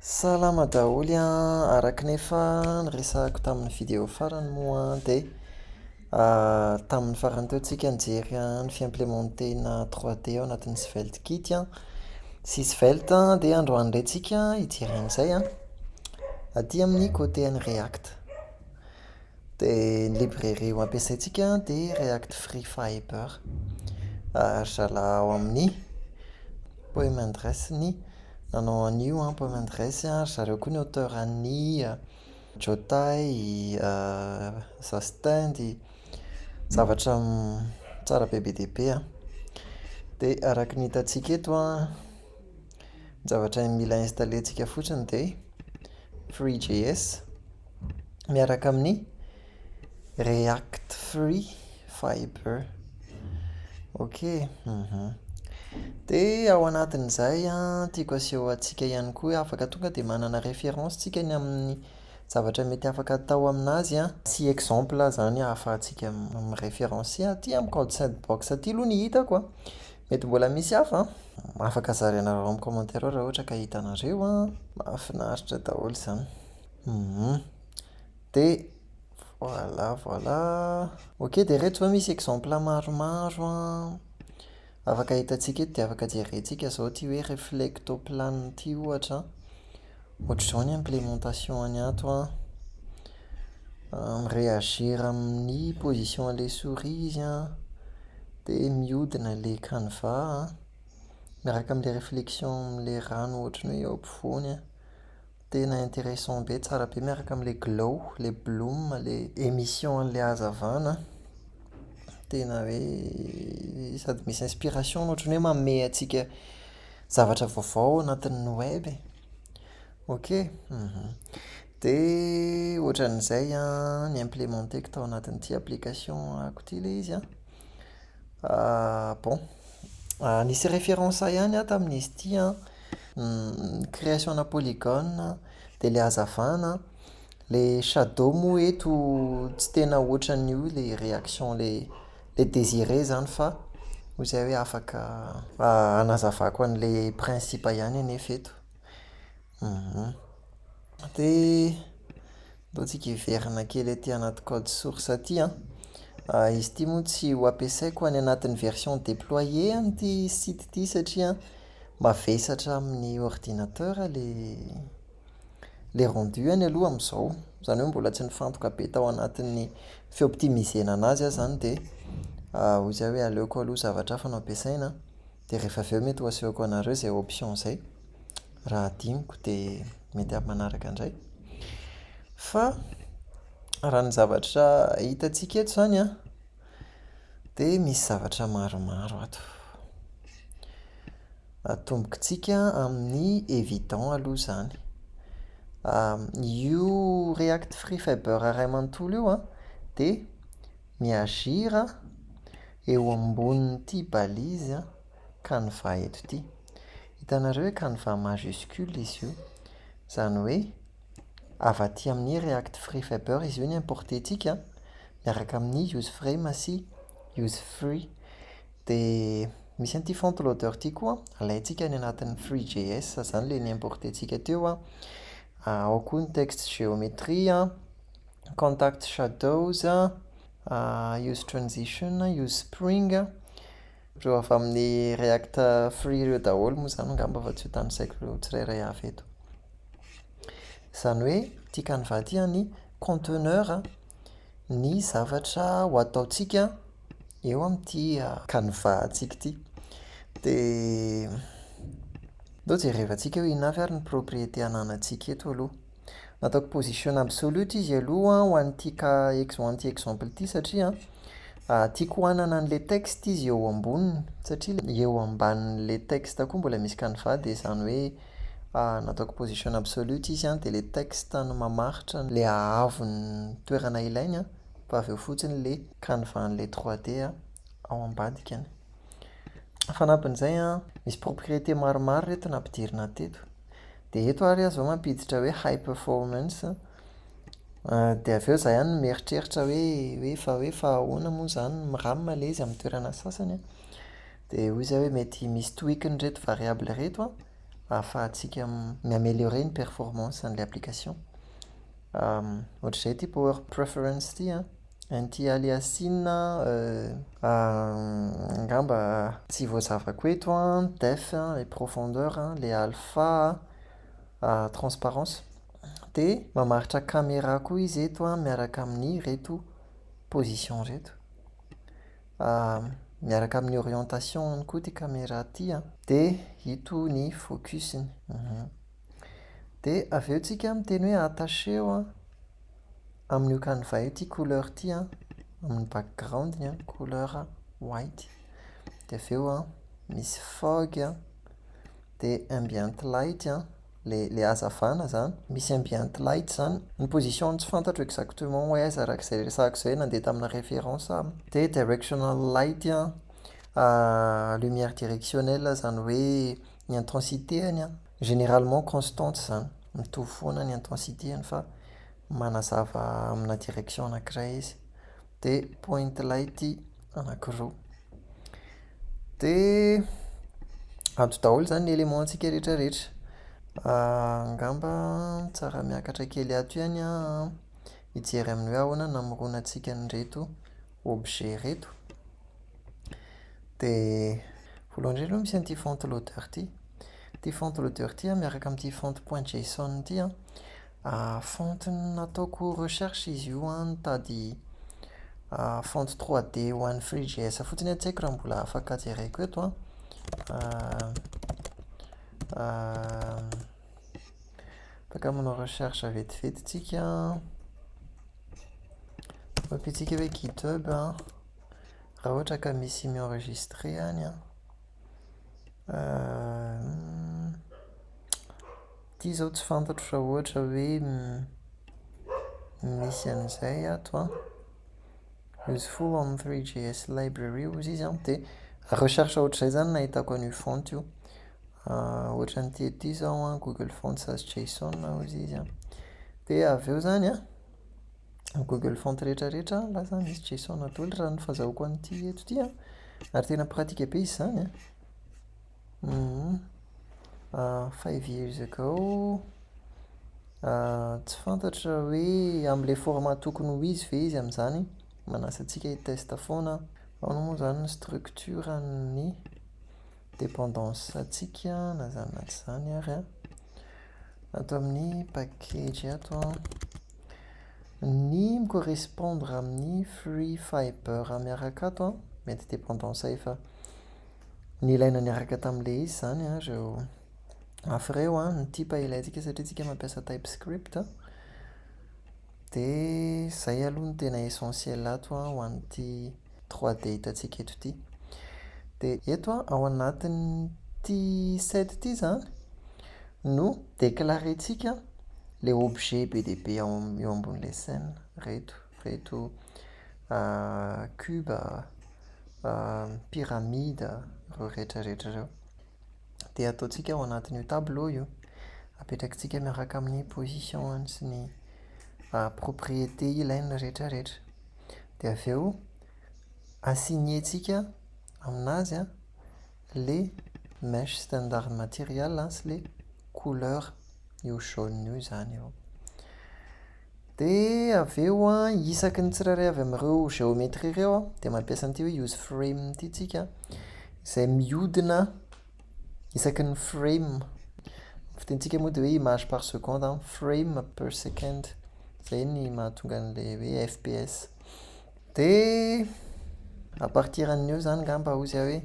Salama daholo an! Araka ny efa niresahako tamin'ny video farany moa an, dia tamin'ny farany teo tsika nijery ny fi-implémenter-na trois D ao anatin'ny svelte kit an, sy svelte an, dia androany indray tsika hijery an'izay an, aty amin'ny côté an'i react. Dia ny librairie ho ampiasaintsika dia React Free Fiber. Ary zalahy ao amin'ny Poem and Dress ny nanao an'io Poem and Dress ary ry zareo koa ny auteur an'ny Jotay, Zastendy, zavatra tsara be be dia be an. Dia araka ny hitantsika eto an, ny zavatra mila installer-ntsika fotsiny dia Free JS. miaraka amin'ny react-free fibre ok dia ao anatin'izay an tiako aseho antsika ihany koa hoe afaka tonga dia manana référence tsika ny amin'ny zavatra mety afaka atao amin'azy an sy exemple izany ahafahantsika mi-référencer aty amiko ao chat box aty aloha ny hitako an, mety mbola misy hafa an, afaka zarainareo amin'ny commentaire ao raha ohatra ka hitanareo an, mahafinaritra daholo izany. Humm de voilà voilà ok de ireto izao misy exemple maromaro an, afaka hitantsika eto dia afaka jerentsika izao ity hoe reflectoplan ity ohatra an, ohatr'izao ny implémentation-ny ato an, mi-réagir amin'ny position an'ilay souris izy an, dia mihodina ilay canevas an, miaraka amin'ilay reflexion amin'ilay rano ohatran'ny hoe eo ampovoany an. Tena intéressant be, tsara be miaraka amin'ilay glow, ilay bloom, ilay émission an'ilay hazavana an. Tena hoe sady misy inspiration no ohatran'ny hoe manome antsika zavatra vaovao ao anatin'ny web e. Ok, dia ohatran'izay an ny implémenter-ko tao anatin'ity application-ko ity ilay izy an. Bon. Nisy référence ahy ihany an tamin'izy ity an, ny création-na polygone an, dia ilay hazavana an, ilay shadow moa eto tsy tena ohatran'ny io ilay réaction ilay ilay désiré izany fa hoy izay hoe afaka hanazavako an'ilay principe ihany anefa eto. Mba tsika hiverina kely aty anaty code source aty an. Izy ity moa tsy ho ampiasaiko any anatin'ny version deployée an'ity site ity satria mavesatra amin'ny ordinateur ilay ilay rendu-ny aloha amin'izao. Izany hoe mbola tsy nifantoka be tao anatin'ny fi-optimisena an'azy aho izany dia hoy za hoe aleoko aloha zavatra hafa no ampiasaina an. Dia rehefa avy eo mety ho asehoko anareo izay option izay. Raha hadinoko dia mety amin'ny manaraka indray. Fa raha ny zavatra hitantsika eto izany an, dia misy zavatra maromaro ato. Atombokintsika amin'ny évident aloha izany. Io react free fiber iray manontolo io an, dia Mi agir a, eo ambonin'ity balise a, canevas eto ity. Hitanareo hoe canevas majuscule izy io. Izany hoe avy aty amin'ny React Free Fiber izy io no importer-tsika miaraka amin'ny useframe sy usefree. Dia misy an'ity font loader ity koa, alaintsika any anatin'ny free JS izany ilay ni-importer-tsika teo an, ao koa ny text géométrie an. contact shadows, use transition, use spring, ireo avy amin'ny react free ireo daholo moa izany angamba fa tsy ho tanisaiko tsirairay avy eto. Izany hoe ity canva ity an, ny conteneur ny zavatra ho ataontsika eo amin'ity canva antsika ity. Dia, aleo jerevantsika hoe inona avy ary ny propriété ananantsika eto aloha. Nataoko position absolute izy aloha ho an'ity cas ex ho an'ity exemple ity satria tiako hanana an'ilay texte izy eo amboniny, satria ilay eo ambanin'ilay texte koa mbola misy canevas dia izany hoe nataoko position absolute izy an, dia ilay texte no mamaritra ilay haavo ny toerana ilainy an, fa avy eo fotsiny ilay canevas an'ilay trois d ao ambadikany. Fanampin'izay an, misy propriété maromaro ireto nampidirina teto. Dia eto ary aho izao mampiditra hoe high performance an, dia avy eo za ihany no mieritreritra hoe hoe fa hoe fa ahoana moa izany ny ram le izy amin'ny toerana sasany an, dia hoy za hoe mety misy tweak-ny ireto variable ireto an, ahafahantsika mi-améliorer ny performance an'ilay application. Ohatr'izay ity power preference ity an. Anti aliasing a angamba tsy voazavako eto an, depth a, ilay profondeur a, ilay alpha a, transparence. Dia mamaritra camera koa izy eto an miaraka amin'ireto position ireto. Miaraka amin'ny orientation ihany koa ity camera ity an. Dia ito ny focus-ny. Dia avy eo tsika miteny hoe attachez-o an, amin'io canevas io ity couleur ity an, amin'ny background-ny an, couleur white. Dia avy eo an, misy fog an, dia ambient light an, ilay ilay hazavana izany, misy ambient light izany. Ny position-ny tsy fantatro exactement hoe aiza araka izay resahako izay, nandeha tamina référence aho. Dia directional light an, lumière directionnelle izany hoe. Ny intensité-any an, généralement constante izany, mitovy foana ny intensité-any fa manazava amina direction anankiray izy, dia point light anankiroa. Dia ato daholo izany ny éléments-ntsika rehetra rehetra. Angamba tsara miakatra kely ato ihany an, hijery amin'ny hoe ahoana namoronantsika an'ireto. objet ireto dia voalohany indrindra aloha misy an'ity font loader ity. Ity font loader ity an, miaraka amin'ity font point json ity an, font nataoko recherche izy io an, nitady font trois D ho an'ny free JS fotsiny aho, tsy haiko raha mbola afaka jereko eto an. Afaka manao recherche vetivety tsika an. Tapitsika hoe github an, raha ohatra ka misy mi-enregistre any an. Ity izao tsy fantatro raha ohatra hoe misy an'izay ato an. Useful on three JS library hozy izy an, dia recherche ohatr'izay izany no nahitako an'io font io. Ohatra an'ity ety izao an, google fonts as json hoy izy an, dia avy eo izany an, ny google fonts rehetrarehetra lasa misy json daholo raha ny fahazahoako an'ity eto ity an, ary tena pratika be izy izany an. Five years ago, tsy fantatro raha hoe amin'ilay format tokony ho izy ve izy amin'izany, manasa antsika hi-test foana aho. Ahoana moa izany ny structure-n'ny. dependance ntsika na izany na tsy izany ary an, ato amin'ny package ato an, ny mi correspondre amin'ny free fibre miaraka ato an, mety dependance efa nilaina niaraka tamin'ilay izy izany an ireo mafy ireo an, ny type ilaintsika satria isika mampiasa type script. Dia izay aloha no tena essentiel ato an, ho an'ity trois dia hitantsika eto ity. Dia eto an, ao anatin'ity set ity izany no déclarer-tsika ilay objet be dia be ao eo ambon'ilay scène. Ireto, ireto cubes, pyramide, ireo rehetra rehetra ireo. dia ataontsika ao anatin'io tableau io, apetrakitsika miaraka amin'ny position-ny sy ny propriété ilain'ny rehetra rehetra. Dia avy eo assigner-tsika amin'azy an, ilay mèche standard material sy ilay couleur io jaune io izany eo. Dia avy eo an, isaky ny tsirairay avy amin'ireo géométrie ireo an, dia mampiasa an'ity hoe use frame ity tsika an, izay mihodina isaky ny frame. Ny fitenintsika moa dia hoe image par seconde an, frame per second. Izay ny mahatonga an'ilay hoe fps. Dia à partir an'io izany angamba hozy aho hoe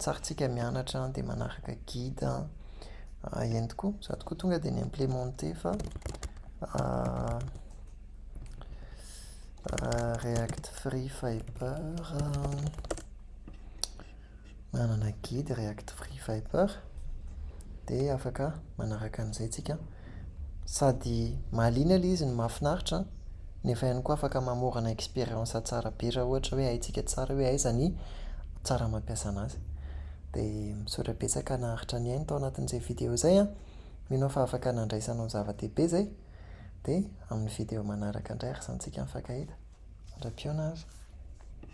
tsarintsika mianatra dia manaraka guide entiko sady koa tonga dia ni-implémenter fa React Free Fiber. Manana guide react free viper dia afaka manaraka an'izay tsika sady mahaliana ilay izy no mahafinaritra nefa ihany koa afaka mamorana expérience tsara be raha ohatra hoe haintsika tsara hoe aiza ny tsara mampiasa an'azy. Dia misaotra betsaka naharitra nihaino tao anatin'izay video izay an! Mino aho fa afaka nandraisanao zava-dehibe izay. Dia amin'ny video manaraka indray ary samy tsika mifankahita. Mandra-pihaona ary.